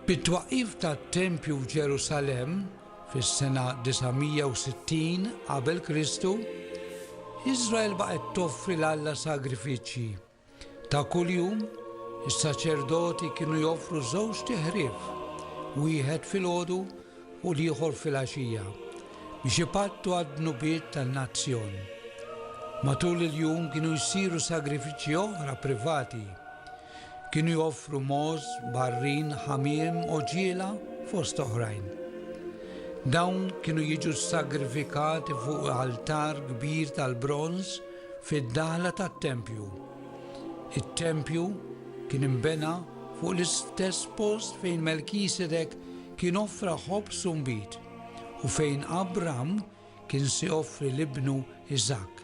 Bit-twaqqif tat-tempju f'Ġerusalemm fis-sena 960 qabel Kristu, Iżrael baqgħet toffri l Alla sagrifiċċji. Ta' kuljum, is-saċerdoti kienu joffru żewġ tiħrif, wieħed filgħodu u l-ieħor filgħaxija, biex ipattu għad-dnubiet tan-nazzjon. Matul il-jum kienu jsiru sagrifiċċji oħra privati, Kienu joffru mogħoż, barrin, ħamiem, għoġiela, fost oħrajn. Dawn kienu jiġu ssagrifikati fuq altar kbir tal-bronż fid-daħla tat-tempju. It-tempju kien inbena fuq l-istess post fejn Melkisedek kien offra ħobż u nbid u fejn Abram kien se joffri 'l ibnu Iżakk,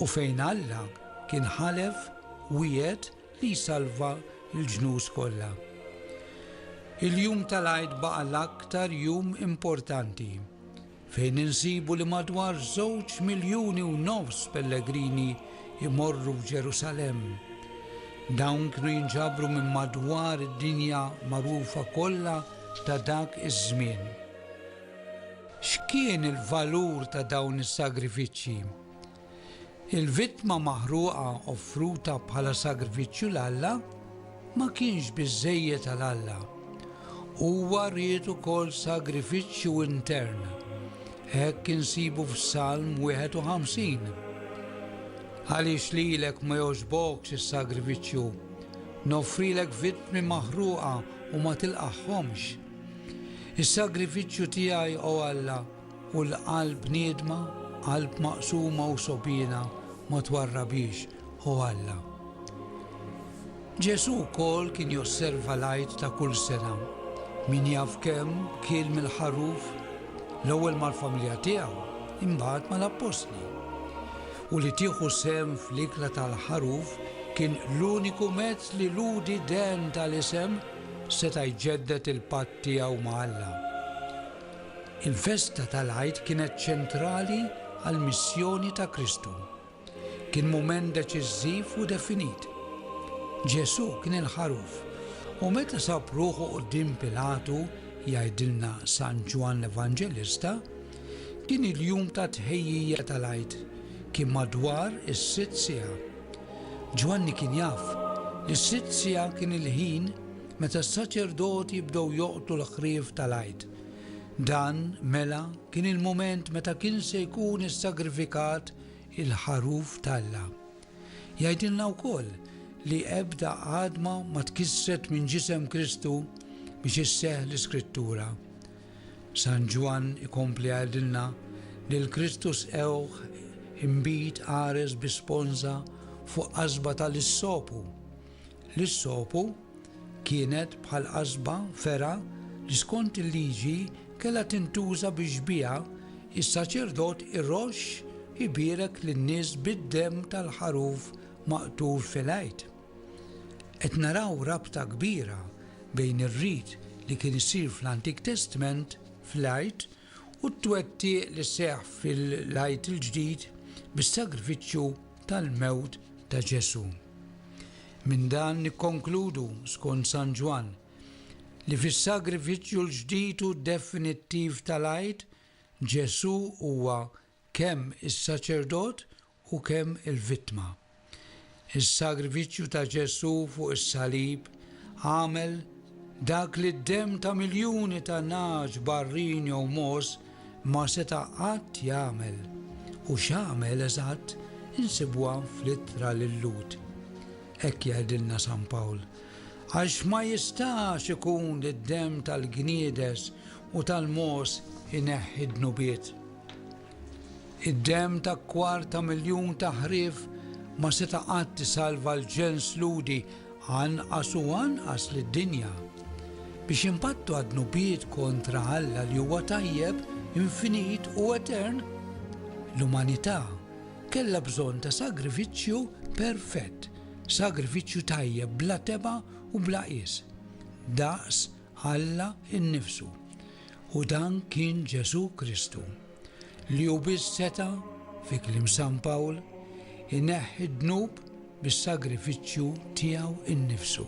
u fejn Alla kien ħalef, wiegħed li jsalva l-ġnus kollha. Il-jum tal-Għid baqa' l-aktar jum importanti, fejn insibu li madwar żewġ miljuni u nofs pellegrini jmorru f'Ġerusalemm. Dawn kienu jinġabru minn madwar id-dinja magħrufa kollha ta' dak iż-żmien. X'kien il-valur ta' dawn is-sagrifiċċji? Il-vittma maħruqa offruta bħala sagrifiċċju 'l Alla ma kienx biżżejjed għal Alla. Huwa ried ukoll sagrifiċċju intern. Hekk insibu f'Salm 51, Għaliex lilek ma jogħġbokx is-sagrifiċċju? Noffrilek vittmi maħruqa u ma tilqagħhomx? Is-sagrifiċċju tiegħi, O Alla, u l-qalb niedma, qalb maqsuma u sogħbiena, ma twarrabhiex, O Alla. Ġesù wkoll kien josserva l-Għid ta' kull sena. Min jaf kemm kiel mill-ħaruf, l-ewwel mal-familja tiegħu, imbagħad mal-appostli. U li tieħu sehem fl-ikla tal-ħaruf kien l-uniku mezz li lhudi dehn tal-isem seta' jġedded il-patt tiegħu ma' Alla. Il-festa tal-Għid kienet ċentrali għall-missjoni ta' Kristu. Kien mument deċiżiv u definit. Ġesù kien il-Ħaruf, u meta sab ruħu quddiem Pilatu, jgħidilna San Ġwann l-Evanġelista, kien il-jum tat-tħejjija tal-Għid, kien madwar is-sitt siegħa. Ġwanni kien jaf li s-sitt siegħa kien il-ħin meta s-saċerdoti bdew joqtlu l-ħrief tal-Għid. Dan, mela, kien il-mument meta kien se jkun issagrifikat il-Ħaruf t'Alla. Jgħidilna wkoll li ebda għadma ma tkissret minn ġisem Kristu biex isseħħ l-Iskrittura. San Ġwann ikompli jgħidilna li l-Kristu sqewh imbid qares bi sponża fuq qasba tal-issopu. L-issopu kienet bħal qasba, fergħa, li skont il-Liġi kellha tintuża biex biha s-saċerdot iroxx ibierek lin-nies bid-demm tal-ħaruf maqtur fil-Għid. Qed naraw rabta kbira bejn ir-rit li kien isir fl-Antik Testment fl-Għid u t-twettiq li seħħ fil-Għid il-Ġdid bis-sagrifiċċju tal-mewt ta' Ġesù. Minn dan nikkonkludu, skont San Ġwann, li fis-sagrifiċċju l-ġdid u definittiv tal-Għid, Ġesù huwa kemm is-saċerdot u kemm il-vittma. Is-sagrifiċċju ta' Ġesù fuq is-salib għamel dak li d-demm ta' miljuni ta' nagħaġ, barrin jew mogħoż ma seta' qatt jagħmel. U x'għamel eżatt insibuha fl-Ittra lil Lhud. Hekk jgħidilna San Pawl, Għax ma jistax ikun li d-demm tal-gniedes u tal-mogħoż ineħħi d-dnubiet. Id-demm ta' kwart ta' miljun ta' ħrief ma seta' qatt isalva l-ġens Lhudi, anqas u anqas lid-dinja. Biex inbattu għad-dnubiet kontra Alla li huwa tajjeb, infinit u etern, l-umanità kellha bżonn ta' sagrifiċċju perfett, sagrifiċċju tajjeb bla tebgħa u bla qies, daqs Alla innifsu, u dan kien Ġesù Kristu, li hu biss seta', fi kliem San Pawl, ineħħi d-dnub bis-sagrifiċċju tiegħu nnifsu.